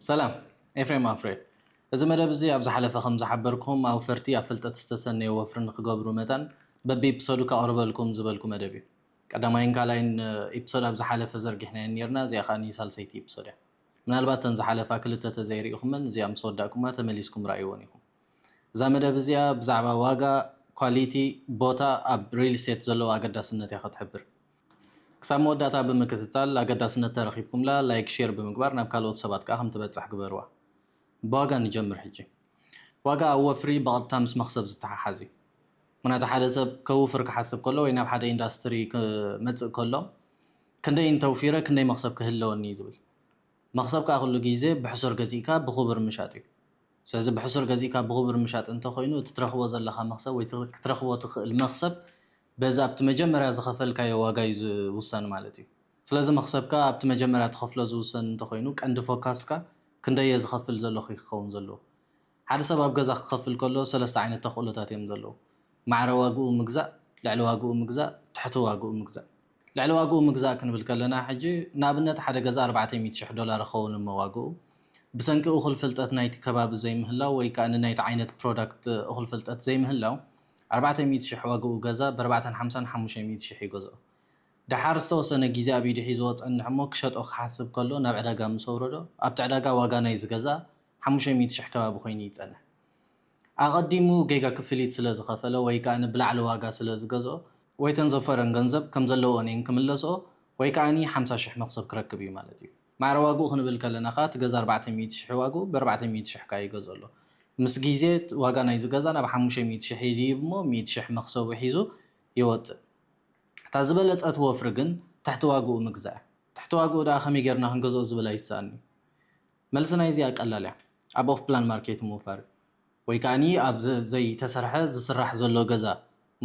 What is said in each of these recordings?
ሰላም ኤፍሬም ኣፍሬ እዚ መደብ እዚ ኣብ ዝሓለፈ ከም ዝሓበርኩም ኣውፈርቲ ኣብ ፍልጠት ዝተሰነዩ ወፍሪ ንክገብሩ መጠን በቢ ኢፕሶዱ ከቕርበልኩም ዝበልኩ መደብ እዩ ቀዳማይን ካልኣይን ኢፕሶድ ኣብ ዝሓለፈ ዘርጊሕናየን ነርና እዚኣ ከኣ ሳልሰይቲ ኢፕሶድ እያ ምናልባት ተን ዝሓለፋ ክልተ ተዘይርኢኹመን እዚኣ ምስ ወዳእኩማ ተመሊስኩም ረኣይወን ኢኹም እዛ መደብ እዚኣ ብዛዕባ ዋጋ ኳሊቲ ቦታ ኣብ ሪል ስቴት ዘለዎ ኣገዳስነት እያ ከትሕብር ክሳብ መወዳእታ ብምክትታል ኣገዳስነት ተረኪብኩምላ ላይክ ሼር ብምግባር ናብ ካልኦት ሰባት ከኣ ከም ትበጽሕ ግበርዋ። ብዋጋ ንጀምር ሕጂ። ዋጋ ኣብ ወፍሪ ብቐጥታ ምስ መኽሰብ ዝተሓሓዝ እዩ። ምኽንያቱ ሓደ ሰብ ከውፍር ክሓስብ ከሎ ወይ ናብ ሓደ ኢንዳስትሪ ክመጽእ ከሎ ክንደይ እንተውፊረ ክንደይ መኽሰብ ክህለወኒ እዩ ዝብል። መኽሰብ ከኣ ኩሉ ግዜ ብሕሱር ገዚእካ ብኹቡር ምሻጥ እዩ። ስለዚ ብሕሱር ገዚእካ ብኹቡር ምሻጥ እንተኾይኑ እቲ ትረኽቦ ዘለኻ መኽሰብ ወይ ክትረኽቦ ትኽእል መኽሰብ በዚ ኣብቲ መጀመርያ ዝኸፈልካዮ ዋጋ እዩ ዝውሰን ማለት እዩ። ስለዚ መኽሰብካ ኣብቲ መጀመርያ ትኸፍሎ ዝውሰን እንተኾይኑ ቀንዲ ፎካስካ ክንደይ እየ ዝኸፍል ዘለኹ እዩ ክኸውን ዘለዎ። ሓደ ሰብ ኣብ ገዛ ክኸፍል ከሎ ሰለስተ ዓይነት ተኽእሎታት እዮም ዘለዉ። ማዕረ ዋግኡ ምግዛእ፣ ልዕሊ ዋግኡ ምግዛእ፣ ትሕቲ ዋግኡ ምግዛእ። ልዕሊ ዋግኡ ምግዛእ ክንብል ከለና ሕጂ ንኣብነት ሓደ ገዛ ኣርባዕተይ ሚእቲ ሽሕ ዶላር ይኸውን እሞ ዋግኡ ብሰንኪ እኹል ፍልጠት ናይቲ ከባቢ ዘይምህላው ወይ ከኣ ንናይቲ ዓይነት ፕሮዳክት እኹል ፍልጠት ዘይምህላው ኣርባዕተ ሚእቲ ሽሕ ዋጋኡ ገዛ በርባዕተን ሓምሳን ሓሙሽተ ሚእቲ ሽሕ ይገዝኦ። ደሓር ዝተወሰነ ግዜ ኣብ ኢዱ ሒዝዎ ጸንሕ እሞ ክሸጦ ክሓስብ ከሎ ናብ ዕዳጋ ምስ ኣውረዶ ኣብቲ ዕዳጋ ዋጋ ናይዚ ገዛ ሓሙሽተ ሚእቲ ሽሕ ከባቢ ኮይኑ ይጸንሕ። ኣቐዲሙ ጌጋ ክፍሊት ስለ ዝኸፈለ ወይ ከኣ ብላዕሊ ዋጋ ስለ ዝገዝኦ፣ ወይ እተን ዘፈረን ገንዘብ ከም ዘለወን እየን ክምለስኦ ወይ ከኣ ሓምሳ ሽሕ መኽሰብ ክረክብ እዩ ማለት እዩ። ማዕረ ዋግኡ ክንብል ከለና ከኣ እቲ ገዛ ኣርባዕተ ሚእቲ ሽሕ ዋግኡ በርባዕተ ሚእቲ ሽሕ ከኣ ይገዝኦ ኣሎ ምስ ግዜ ዋጋ ናይዚ ገዛ ናብ ሓሙሽተ ሚእቲ ሽሕ ይድይብ እሞ ሚእቲ ሽሕ መኽሰቡ ሒዙ ይወጽእ እታ ዝበለጸት ወፍሪ ግን ትሕቲ ዋግኡ ምግዛእ እያ ትሕቲ ዋግኡ ደኣ ከመይ ጌርና ክንገዝኦ ዝብል ኣይስኣንንዩ መልሲ ናይዚኣ ቀላል እያ ኣብ ኦፍፕላን ማርኬት ምውፋር እዩ ወይ ከኣ ኣብ ዘይ ተሰርሐ ዝስራሕ ዘሎ ገዛ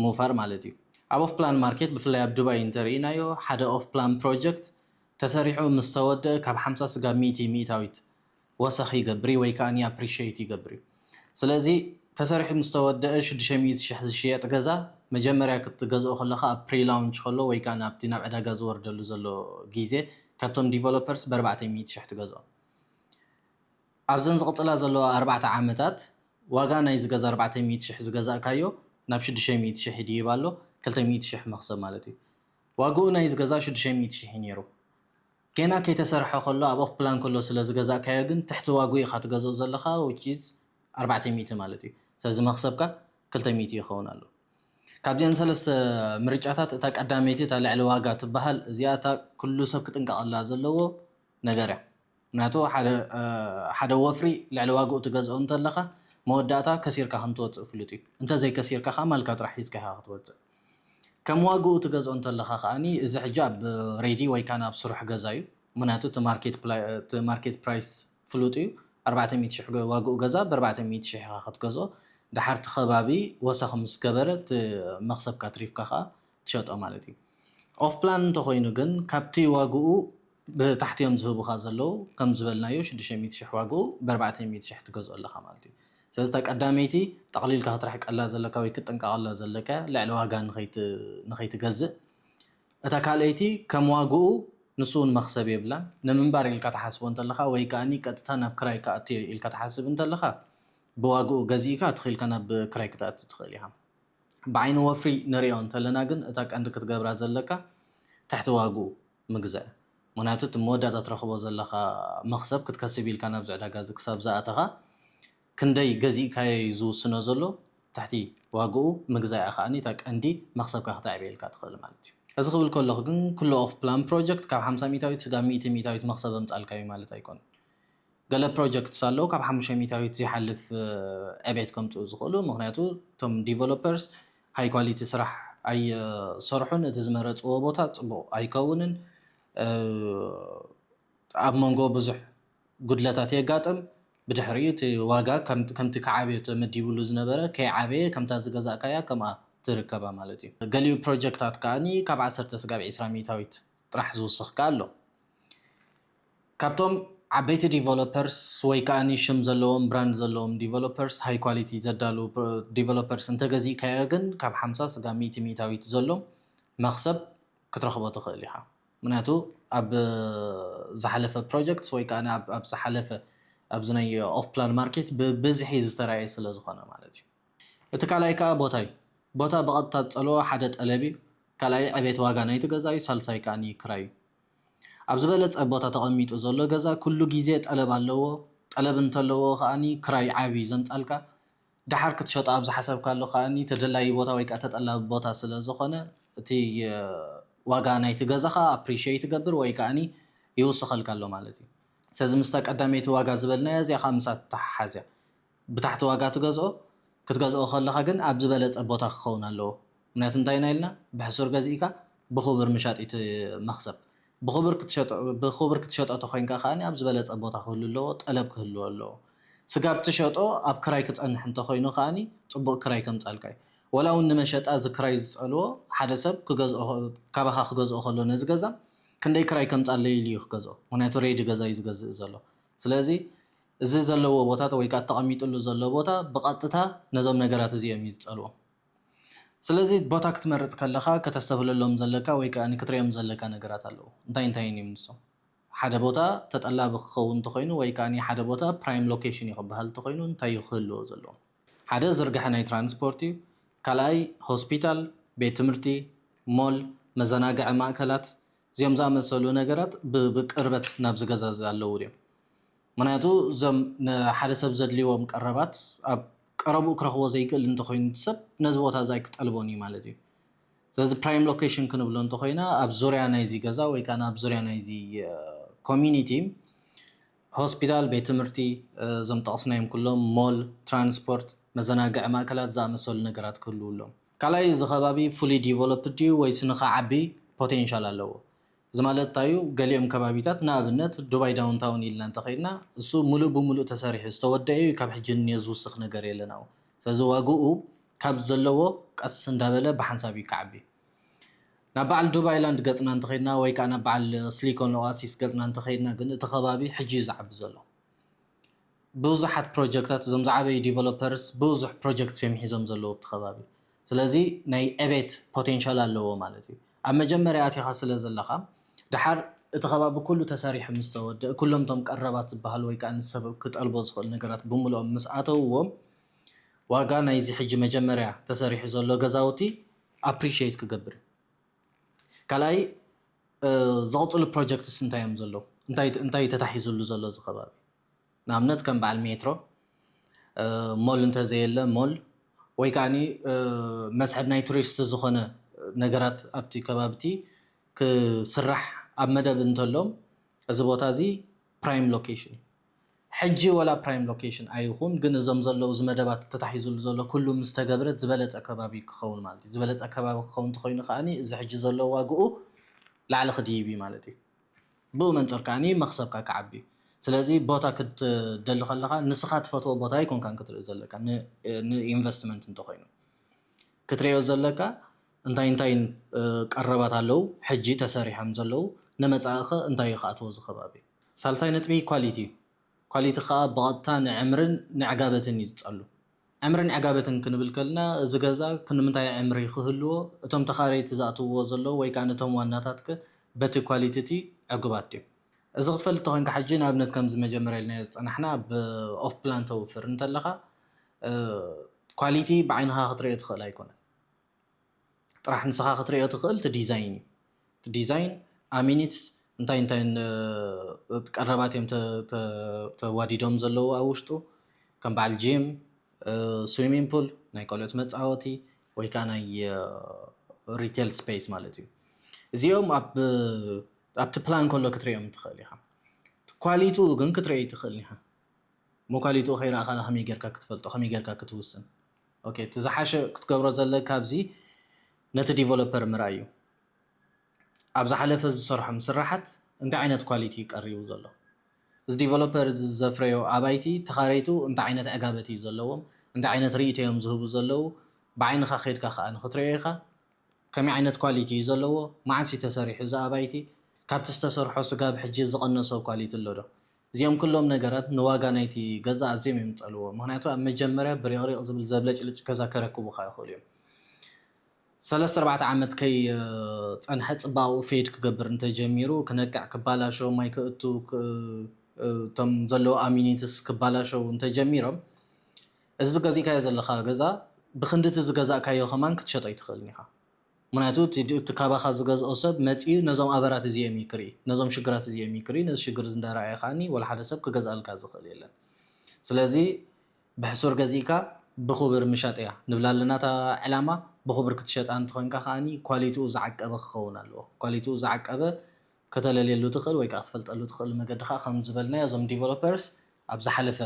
ምውፋር ማለት እዩ። ኣብ ኦፍ ፕላን ማርኬት ብፍላይ ኣብ ዱባይ እንተ ርኢናዮ ሓደ ኦፍ ፕላን ፕሮጀክት ተሰሪሑ ምስ ተወደእ ካብ ሓምሳ ስጋብ ሚእቲ ሚእታዊት ወሰኽ ይገብር እዩ ወይ ከኣ ኣፕሪሸይት ይገብር እዩ። ስለዚ ተሰሪሑ ምስ ተወደእ ሽዱሽተ ሚእቲ ሽሕ ዝሽየጥ ገዛ መጀመርያ ክትገዝኦ ከለኻ ኣብ ፕሪ ላውንች ከሎ ወይ ከኣ ኣብቲ ናብ ዕዳጋ ዝወርደሉ ዘሎ ግዜ ካብቶም ዲቨሎፐርስ ብኣርባዕተ ሚእቲ ሽሕ ትገዝኦ። ኣብዘን ዝቕጽላ ዘለዋ ኣርባዕተ ዓመታት ዋጋ ናይ ዝገዛ ኣርባዕተ ሚእቲ ሽሕ ዝገዛእካዮ ናብ ሽዱሽተ ሚእቲ ሽሕ ይድይብ ኣሎ፣ ክልተ ሚእቲ ሽሕ መኽሰብ ማለት እዩ። ዋግኡ ናይ ዝገዛ ሽዱሽተ ሚእቲ ሽሕ እዩ ነይሩ። ጌና ከይተሰርሐ ከሎ ኣብ ኦፍ ፕላን ከሎ ስለ ዝገዛእካዮ ግን ትሕቲ ዋግኡ ኢኻ ትገዝኦ ዘለኻ which is ኣርባዕተ ሚእቲ ማለት እዩ። ስለዚ መኽሰብካ ክልተ ሚእቲ ይኸውን ኣሎ። ካብዚኣን ሰለስተ ምርጫታት እታ ቀዳመይቲ እታ ልዕሊ ዋጋ ትበሃል እዚኣ እታ ኩሉ ሰብ ክጥንቀቐላ ዘለዎ ነገር እያ ምክንያቱ ሓደ ወፍሪ ልዕሊ ዋግኡ ትገዝኦ እንተለካ መወዳእታ ከሲርካ ከም ትወፅእ ፍሉጥ እዩ እንተዘይ ከሲርካ ከዓ ማልካ ጥራሕ ሒዝካ ኢካ ክትወፅእ ከም ዋግኡ ትገዝኦ እንተለካ ከዓ እዚ ሕጂ ኣብ ሬዲ ወይ ከዓ ኣብ ስሩሕ ገዛ እዩ ምክንያቱ እቲ ማርኬት ፕራይስ ፍሉጥ እዩ ኣርባዕተ ሚእቲ ሽሕ ዋግኡ ገዛ በርባዕተ ሚእቲ ሽሕ ኢካ ክትገዝኦ ደሓር እቲ ከባቢ ወሰክ ምስ ገበረ እቲ መክሰብካ ኣትሪፍካ ከዓ ትሸጦ ማለት እዩ ኦፍ ፕላን እንተኮይኑ ግን ካብቲ ዋግኡ ብታሕቲ እዮም ዝህቡኻ ዘለዉ ከም ዝበልናዮ ሽዱሽተ ሚእቲ ሽሕ ዋግኡ ብኣርባዕተ ሚእቲ ሽሕ ትገዝኦ ኣለኻ ማለት እዩ ስለዚ እታ ቀዳመይቲ ጠቕሊልካ ክትርሕቀላ ዘለካ ወይ ክትጥንቀቐላ ዘለካ ልዕሊ ዋጋ ንኸይትገዝእ እታ ካልኣይቲ ከም ዋግኡ ንሱ እውን መኽሰብ የብላን ንምንባር ኢልካ ትሓስቦ እንተለኻ ወይ ከዓኒ ቀጥታ ናብ ክራይ ክኣቱ እየ ኢልካ ትሓስብ እንተለኻ ብዋግኡ ገዚእካ ትኺኢልካ ናብ ክራይ ክትኣቱ ትኽእል ኢኻ ብዓይኒ ወፍሪ ንሪኦ እንተለና ግን እታ ቀንዲ ክትገብራ ዘለካ ትሕቲ ዋግኡ ምግዛእ ምክንያቱ እቲ መወዳእታ ትረክቦ ዘለካ መክሰብ ክትከስብ ኢልካ ናብዚ ዕዳጋ እዚ ክሳብ ዝኣተካ ክንደይ ገዚእካዮ እዩ ዝውስኖ ዘሎ ትሕቲ ዋግኡ ምግዛእ እያ ከኣ እታ ቀንዲ መክሰብካ ክተዕብየልካ ትክእል ማለት እዩ። እዚ ክብል ከለኩ ግን ኩሉ ኦፍ ፕላን ፕሮጀክት ካብ ሓምሳ ሚኢታዊት ስጋብ ሚእቲ ሚኢታዊት መክሰብ ኣምጻልካ እዩ ማለት ኣይኮነን። ገለ ፕሮጀክትስ ኣለዉ ካብ ሓሙሽተ ሚታዊት ዘይሓልፍ ዕቤት ከምጽኡ ዝኽእሉ ምኽንያቱ እቶም ዲቨሎፐርስ ሃይ ኳሊቲ ስራሕ ኣይሰርሑን እቲ ዝመረጽዎ ቦታ ጽቡቕ ኣይከውንን ኣብ መንጎ ብዙሕ ጉድለታት የጋጥም ብድሕሪኡ እቲ ዋጋ ከምቲ ክዓብዮ ተመዲብሉ ዝነበረ ከይዓበየ ከምታ ዝገዛእካያ ከምኣ ትርከባ ማለት እዩ ገሊኡ ፕሮጀክታት ከኣ ካብ ዓሰርተ ስጋብ ዒስራ ሚታዊት ጥራሕ ዝውስኽ ከኣ ኣሎ ካብቶም ዓበይቲ ዲቨሎፐርስ ወይ ከኣ ሽም ዘለዎም ብራንድ ዘለዎም ዲቨሎፐርስ ሃይ ኳሊቲ ዘዳልዉ ዲቨሎፐርስ እንተገዚእካዮ ግን ካብ ሓምሳ ስጋብ ሚእቲ ሚእታዊት ዘሎ መኽሰብ ክትረኽቦ ትኽእል ኢኻ። ምክንያቱ ኣብ ዝሓለፈ ፕሮጀክትስ ወይ ከኣ ኣብ ዝሓለፈ ኣብዚ ናይ ኦፍ ፕላን ማርኬት ብብዝሒ ዝተራእየ ስለ ዝኾነ ማለት እዩ። እቲ ካልኣይ ከኣ ቦታ እዩ። ቦታ ብቐጥታ ዝጸልዎ ሓደ ጠለብ እዩ፣ ካልኣይ ዕቤት ዋጋ ናይቲ ገዛ እዩ፣ ሳልሳይ ከኣ ክራይ እዩ። ኣብ ዝበለጸ ቦታ ተቐሚጡ ዘሎ ገዛ ኩሉ ግዜ ጠለብ ኣለዎ ጠለብ እንተለዎ ከኣ ክራይ ዓቢ ዘምጻልካ ደሓር ክትሸጦ ኣብ ዝሓሰብካሉ ከኣ ተደላዪ ቦታ ወይ ከኣ ተጠላቢ ቦታ ስለ ዝኾነ እቲ ዋጋ ናይቲ ገዛኻ ኣፕሪሸይት ይገብር ወይ ከኣ ይውስኸልካ ኣሎ ማለት እዩ። ስለዚ ምስታ ቀዳመይቲ ዋጋ ዝበልናያ እዚኣ ከኣ ምስኣ ትተሓሓዝ እያ። ብታሕቲ ዋጋ ትገዝኦ፣ ክትገዝኦ ከለኻ ግን ኣብ ዝበለጸ ቦታ ክኸውን ኣለዎ። ምክንያቱ እንታይ ኢና ኢልና ብሕሱር ገዚእካ ብኹብር ምሻጥ ኢዩ እቲ መኽሰብ። ብኹብር ክትሸጦ ብኹብር ክትሸጦ ተኾይንካ ከኣ ኣብ ዝበለጸ ቦታ ክህሉ ኣለዎ፣ ጠለብ ክህልዎ ኣለዎ። ስጋብ ትሸጦ ኣብ ክራይ ክጸንሕ እንተኾይኑ ከኣ ጽቡቕ ክራይ ከምጻልካ ኢዩ። ወላ ውን ንመሸጣ እዚ ክራይ ዝጸልዎ ሓደ ሰብ ክገዝኦ ካባኻ ክገዝኦ ከሎ ነዚ ገዛ ክንደይ ክራይ ከምጻለይ ኢሉ ኢዩ ክገዝኦ ምክንያቱ ሬዲ ገዛ ኢዩ ዝገዝእ ዘሎ። ስለዚ እዚ ዘለዎ ቦታት ወይ ከኣ ተቐሚጥሉ ዘሎ ቦታ ብቐጥታ ነዞም ነገራት እዚኦም እዩ ዝጸልዎም። ስለዚ ቦታ ክትመርጽ ከለኻ ከተስተብህለሎም ዘለካ ወይ ከኣ ክትርእዮም ዘለካ ነገራት ኣለዉ። እንታይ እንታይን እዮም ንሶም? ሓደ ቦታ ተጠላቢ ክኸውን እንተኾይኑ ወይ ከኣ ሓደ ቦታ ፕራይም ሎኬሽን እዩ ክበሃል እንተኾይኑ እንታይ እዩ ክህልዎ ዘለዎ? ሓደ ዝርግሐ ናይ ትራንስፖርት እዩ። ካልኣይ ሆስፒታል፣ ቤት ትምህርቲ፣ ሞል፣ መዘናግዒ ማእከላት እዚኦም ዝኣመሰሉ ነገራት ብቅርበት ናብዚ ገዛ እዚ ኣለዉ ድዮም? ምኽንያቱ እዞም ንሓደ ሰብ ዘድልዎም ቀረባት ኣብ ቀረብኡ ክረኽቦ ዘይክእል እንተኾይኑ እቲ ሰብ ነዚ ቦታ እዚ ኣይክጠልቦን እዩ ማለት እዩ። ስለዚ ፕራይም ሎኬሽን ክንብሎ እንተኾይና ኣብ ዙርያ ናይዚ ገዛ ወይ ከኣ ኣብ ዙርያ ናይዚ ኮሚኒቲ ሆስፒታል፣ ቤት ትምህርቲ፣ እዞም ጠቕስናዮም ኩሎም ሞል፣ ትራንስፖርት፣ መዘናግዒ ማእከላት ዝኣመሰሉ ነገራት ክህልዉ ኣለዎም። ካልኣይ እዚ ከባቢ ፉሊ ዲቨሎፕድ ድዩ ወይስ ንኽዓቢ ፖቴንሻል ኣለዎ? እዚ ማለት እንታይ'ዩ? ገሊኦም ከባቢታት፣ ንኣብነት ዱባይ ዳውንታውን ኢልና እንተ ኸይድና፣ እሱ ምሉእ ብምሉእ ተሰሪሑ ዝተወደኤ'ዩ፣ ካብ ሕጂ ንንዮ ዝውስኽ ነገር የለን ኣብኡ። ስለዚ ዋጋኡ ካብ ዘለዎ ቀስ እንዳበለ ብሓንሳብ'ዩ ክዓቢ። ናብ በዓል ዱባይ ላንድ ገጽና እንተ ኸይድና ወይ ከኣ ናብ በዓል ስሊኮን ኦኣሲስ ገጽና እንተ ኸይድና ግን እቲ ከባቢ ሕጂ'ዩ ዝዓቢ ዘሎ። ብዙሓት ፕሮጀክታት እዞም ዝዓበዩ ዲቨሎፐርስ ብዙሕ ፕሮጀክትስ እዮም ሒዞም ዘለዉ ኣብቲ ከባቢ ስለዚ ናይ ዕቤት ፖቴንሻል ኣለዎ ማለት እዩ ኣብ መጀመርያ ኣቲኻ ስለ ዘለኻ ድሓር እቲ ከባቢ ኩሉ ተሰሪሑ ምስ ተወድእ ኩሎም እቶም ቀረባት ዝበሃሉ ወይ ከዓ ንሰብ ክጠልቦ ዝኽእል ነገራት ብምልኦም ምስ ኣተውዎ ዋጋ ናይዚ ሕጂ መጀመርያ ተሰሪሑ ዘሎ ገዛውቲ ኣፕሪሽት ክገብር እዩ ካልኣይ ዝቕፅሉ ፕሮጀክትስ እንታይ እዮም ዘለዉ? እንታይ ተታሒዙሉ ዘሎ እዚ ከባቢ? ንኣብነት ከም በዓል ሜትሮ፣ ሞል እንተዘየለ ሞል ወይ ከዓኒ መስሕብ ናይ ቱሪስት ዝኾነ ነገራት ኣብቲ ከባቢቲ ክስራሕ ኣብ መደብ እንተሎ እዚ ቦታ እዚ ፕራይም ሎኬሽን እዩ። ሕጂ ወላ ፕራይም ሎኬሽን ኣይኹን ግን እዞም ዘለዉ እዚ መደባት ተታሒዝሉ ዘሎ ኩሉ ምስ ተገብረ ዝበለጸ ከባቢ እዩ ክኸውን ማለት እዩ። ዝበለጸ ከባቢ ክኸውን እንተኾይኑ ከኣ እዚ ሕጂ ዘሎ ዋግኡ ላዕሊ ክድይብ እዩ ማለት እዩ። ብኡ መንጽር ከኣ መኽሰብካ ክዓቢ እዩ። ስለዚ ቦታ ክትደሊ ከለኻ ንስኻ ትፈትዎ ቦታ ኣይኮንካን ክትርኢ ዘለካ ንኢንቨስትመንት እንተኾይኑ ክትርእዮ ዘለካ እንታይ እንታይ ቀረባት ኣለዉ ሕጂ ተሰሪሖም ዘለዉ ንመጻኢኸ እንታይ እዩ ክኣትዎ እዚ ከባቢ ሳልሳይ ነጥቢ ኳሊቲ እዩ። ኳሊቲ ከኣ ብቐጥታ ንዕምርን ንዕጋበትን እዩ ዝጸሉ። ዕምርን ዕጋበትን ክንብል ከልና እዚ ገዛ ክንምንታይ ዕምሪ ክህልዎ፣ እቶም ተኻረይቲ ዝኣትውዎ ዘለዉ ወይ ከኣ እቶም ዋናታትከ በቲ ኳሊቲቲ ዕጉባት ድዮም? እዚ ክትፈልጥ ተኾይንካ ሕጂ ንኣብነት ከምዚ መጀመርያ ኢልናዮ ዝጸናሕና ኣብ ኦፍ ፕላን ተውፍር እንተለኻ ኳሊቲ ብዓይንኻ ክትርእዮ ትኽእል ኣይኮነን። ጥራሕ ንስኻ ክትሪኦ ትኽእል እቲ ዲዛይን እዩ። እቲ ዲዛይን ኣሚኒትስ እንታይ እንታይ ቀረባት እዮም ተዋዲዶም ዘለዉ ኣብ ውሽጡ ከም በዓል ጂም ስዊሚንግ ፑል ናይ ቆልዑት መፃወቲ ወይ ከዓ ናይ ሪቴል ስፔስ ማለት እዩ። እዚኦም ኣብ ኣብቲ ፕላን ከሎ ክትሪኦም ትኽእል ኢኻ። ኳሊቲኡ ግን ክትሪኦ ኣይትኽእልን ኢኻ። እሞ ኳሊቲኡ ከይረኣኻላ ከመይ ጌርካ ክትፈልጦ ከመይ ጌርካ ክትውስን? ኦኬ እቲ ዝሓሸ ክትገብሮ ዘለካ ኣብዚ ነቲ ዲቨሎፐር ምርኣይ እዩ ኣብ ዝሓለፈ ዝሰርሖም ስራሓት እንታይ ዓይነት ኳሊቲ እዩ ቀሪቡ ዘሎ እዚ ዲቨሎፐር እዚ ዘፍረዮ ኣባይቲ ተኻረይቱ እንታይ ዓይነት ዕጋበት እዩ ዘለዎም እንታይ ዓይነት ርእይቶ እዮም ዝህቡ ዘለዉ ብዓይንኻ ከድካ ከዓ ንክትሪኦ ኢኻ ከመይ ዓይነት ኳሊቲ እዩ ዘለዎ መዓስ እዩ ተሰሪሑ እዚ ኣባይቲ ካብቲ ዝተሰርሖ ስጋብ ሕጂ ዝቐነሶ ኳሊቲ ኣሎ ዶ እዚኦም ኩሎም ነገራት ንዋጋ ናይቲ ገዛ ኣዝዮም እዮም ዝጸልዎ፣ ምኽንያቱ ኣብ መጀመርያ ብሪቕሪቕ ዝብል ዘብለጭልጭ ገዛ ከረክቡኻ ይኽእሉ እዮም። ሰለስተ ኣርባዕተ ዓመት ከይጸንሐ ጽባቐኡ ፌድ ክገብር እንተ ጀሚሩ፣ ክነቅዕ፣ ክባላሾ፣ ማይ ክእቱ፣ እቶም ዘለዉ ኣሚኒትስ ክባላሸዉ እንተ ጀሚሮም፣ እዚ ገዚእካዮ ዘለኻ ገዛ ብኽንዲ እቲ ዝገዛእካዮ ከማን ክትሸጦ ኣይትኽእልን ኢኻ። ምኽንያቱ እቲ እቲ ካባኻ ዝገዝኦ ሰብ መጺኡ ነዞም ኣበራት እዚኦም እዩ ክርኢ ነዞም ሽግራት እዚኦም እዩ ክርኢ ነዚ ሽግር እዚ እንዳረኣየ ከኣኒ ወላ ሓደ ሰብ ክገዝኣልካ ዝኽእል የለን ስለዚ ብሕሱር ገዚእካ ብኹብር ምሻጥ እያ ንብላ ኣለና እታ ዕላማ ብኹብር ክትሸጣ እንተኾይንካ ከኣኒ ኳሊትኡ ዝዓቀበ ክኸውን ኣለዎ ኳሊትኡ ዝዓቀበ ከተለልየሉ ትኽእል ወይ ከኣ ክትፈልጠሉ ትኽእሉ መገዲ ከኣ ከም ዝበልናዮ እዞም ዲቨሎፐርስ ኣብ ዝሓለፈ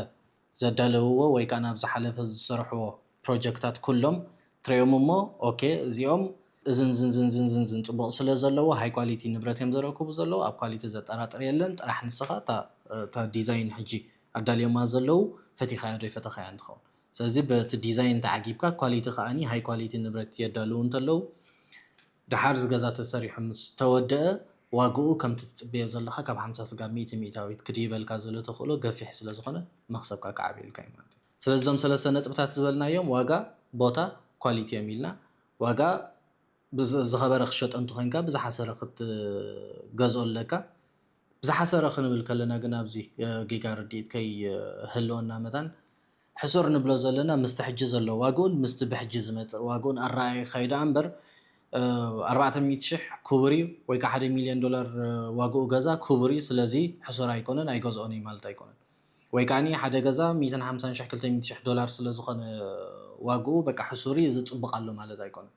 ዘዳለውዎ ወይ ከኣ ናብ ዝሓለፈ ዝሰርሕዎ ፕሮጀክታት ኩሎም ትሪኦም እሞ ኦኬ እዚኦም እዝን ዝን ዝን ዝን ዝን ዝን ጽቡቕ ስለ ዘለዎ ሃይ ኳሊቲ ንብረት እዮም ዘረክቡ ዘለዉ ኣብ ኳሊቲ ዘጠራጥር የለን ጥራሕ ንስኻ እታ እታ ዲዛይን ሕጂ ኣዳልዮማ ዘለዉ ፈቲኻያ ዶ ኣይፈተኻያን ትኸውን ስለዚ በቲ ዲዛይን ተዓጊብካ ኳሊቲ ከኣ ሃይ ኳሊቲ ንብረት የዳልዉ እንተለዉ ደሓር እዚ ገዛ ተሰሪሑ ምስ ተወደኣ ዋግኡ ከምቲ ትጽበዮ ዘለኻ ካብ ሓምሳ ስጋብ ሚእቲ ሚእታዊት ክድይበልካ ዘሎ ተኽእሎ ገፊሕ ስለ ዝኾነ መኽሰብካ ክዓብየልካ እዩ ማለት እዩ። ስለዚ እዞም ሰለስተ ነጥብታት ዝበልናዮም ዋጋ፣ ቦታ፣ ኳሊቲ እዮም ኢልና። ዋጋ ብዝኸበረ ክትሸጦ እንተኾይንካ ብዝሓሰረ ክትገዝኦ ኣለካ። ብዝሓሰረ ክንብል ከለና ግን ኣብዚ ጌጋ ርድኢት ከይህልወና መታን፣ ሕሱር ንብሎ ዘለና ምስቲ ሕጂ ዘሎ ዋግኡን ምስቲ ብሕጂ ዝመጽእ ዋግኡን ኣረኣኢኻ እዩ ደኣ እምበር ኣርባዕተ ሚእቲ ሽሕ ክቡር እዩ ወይ ከኣ ሓደ ሚልዮን ዶላር ዋግኡ ገዛ ክቡር እዩ ስለዚ ሕሱር ኣይኮነን ኣይገዝኦን እዩ ማለት ኣይኮነን ወይ ከኣ ሓደ ገዛ ሚእትን ሓምሳን ሽሕ ክልተ ሚእቲ ሽሕ ዶላር ስለ ዝኾነ ዋግኡ በቃ ሕሱር እዩ እዚ ጽቡቕ ኣሎ ማለት ኣይኮነን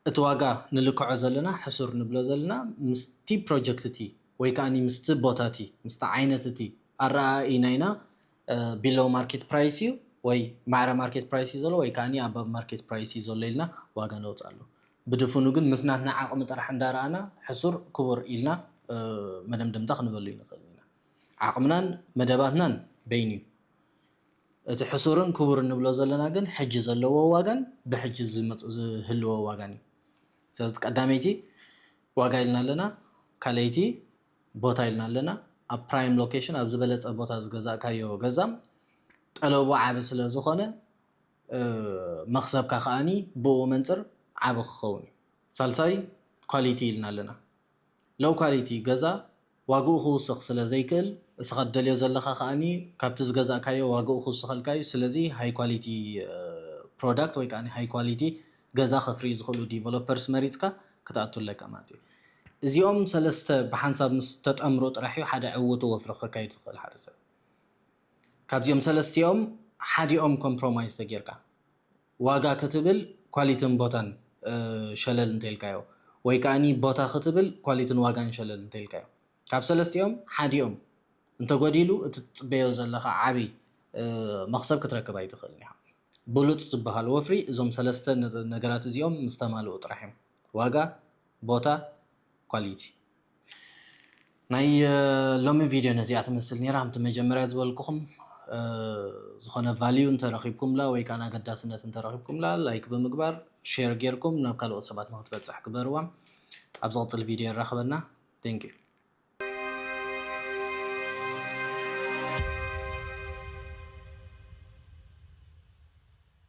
እቲ ዋጋ ንልክዖ ዘለና ሕሱር ንብሎ ዘለና ምስቲ ፕሮጀክት እቲ ወይ ከኣኒ ምስቲ ቦታ እቲ ምስቲ ዓይነት እቲ ኣረኣእይናይና ቢሎው ማርኬት ፕራይስ እዩ ወይ ማዕረ ማርኬት ፕራይስ እዩ ዘሎ ወይ ከኣኒ ኣባብ ማርኬት ፕራይስ እዩ ዘሎ ኢልና ዋጋ ነውፅኣሉ ብድፍኑ ግን ምስ ናትና ዓቕሚ ጥራሕ እንዳረኣና ሕሱር ክቡር ኢልና መደምደምታ ክንበሉ ይንኽእል ኢና ዓቕምናን መደባትናን በይኑ እዩ እቲ ሕሱርን ክቡርን ንብሎ ዘለና ግን ሕጂ ዘለዎ ዋጋን ብሕጂ ዝህልዎ ዋጋን እዩ። ስለዚ እቲ ቀዳመይቲ ዋጋ ኢልና ኣለና፣ ካልኣይቲ ቦታ ኢልና ኣለና። ኣብ ፕራይም ሎኬሽን ኣብ ዝበለጸ ቦታ ዝገዛእካዮ ገዛም ጠለቡ ዓቢ ስለ ዝኾነ መኽሰብካ ከኣኒ ብኡ መንጽር ዓቢ ክኸውን እዩ። ሳልሳይ ኳሊቲ ኢልና ኣለና። ሎው ኳሊቲ ገዛ ዋግኡ ክውስኽ ስለ ዘይክእል እስኻ ትደልዮ ዘለኻ ከኣ ካብቲ ዝገዛእካዮ ዋግኡ ክውስኸልካ እዩ ስለዚ ሃይ ኳሊቲ ፕሮዳክት ወይ ከኣ ሃይ ኳሊቲ ገዛ ከፍርዩ ዝኽእሉ ዲቨሎፐርስ መሪጽካ ክትኣቱ ኣለካ ማለት እዩ እዚኦም ሰለስተ ብሓንሳብ ምስ ተጠምሩ ጥራሕ እዩ ሓደ ዕውቱ ወፍሪ ከካይድ ዝኽእል ሓደ ሰብ ካብዚኦም ሰለስቲኦም ሓዲኦም ኮምፕሮማይዝ ተጌርካ ዋጋ ክትብል ኳሊትን ቦታን ሸለል እንተኢልካዮ ወይ ከኣኒ ቦታ ክትብል ኳሊትን ዋጋን ሸለል እንተኢልካዮ ካብ ሰለስቲኦም ሓዲኦም እንተጎዲሉ እቲ ትጽበዮ ዘለኻ ዓቢ መኽሰብ ክትረክብ ኣይትኽእልን ኢኻ። ብሉጽ ዝበሃል ወፍሪ እዞም ሰለስተ ነገራት እዚኦም ምስ ተማልኡ ጥራሕ እዮም። ዋጋ፣ ቦታ፣ ኳሊቲ ናይ ሎሚ ቪድዮ ነዚኣ ትመስል ነይራ ከምቲ መጀመርያ ዝበልኩኹም ዝኾነ ቫልዩ እንተረኺብኩምላ ወይ ከዓ ኣገዳስነት እንተረኺብኩምላ ላይክ ብምግባር ሼር ጌርኩም ናብ ካልኦት ሰባት ንክትበፅሕ ግበርዋ ኣብ ዝቕፅል ቪድዮ ይራኸበና ቴንክ ዩ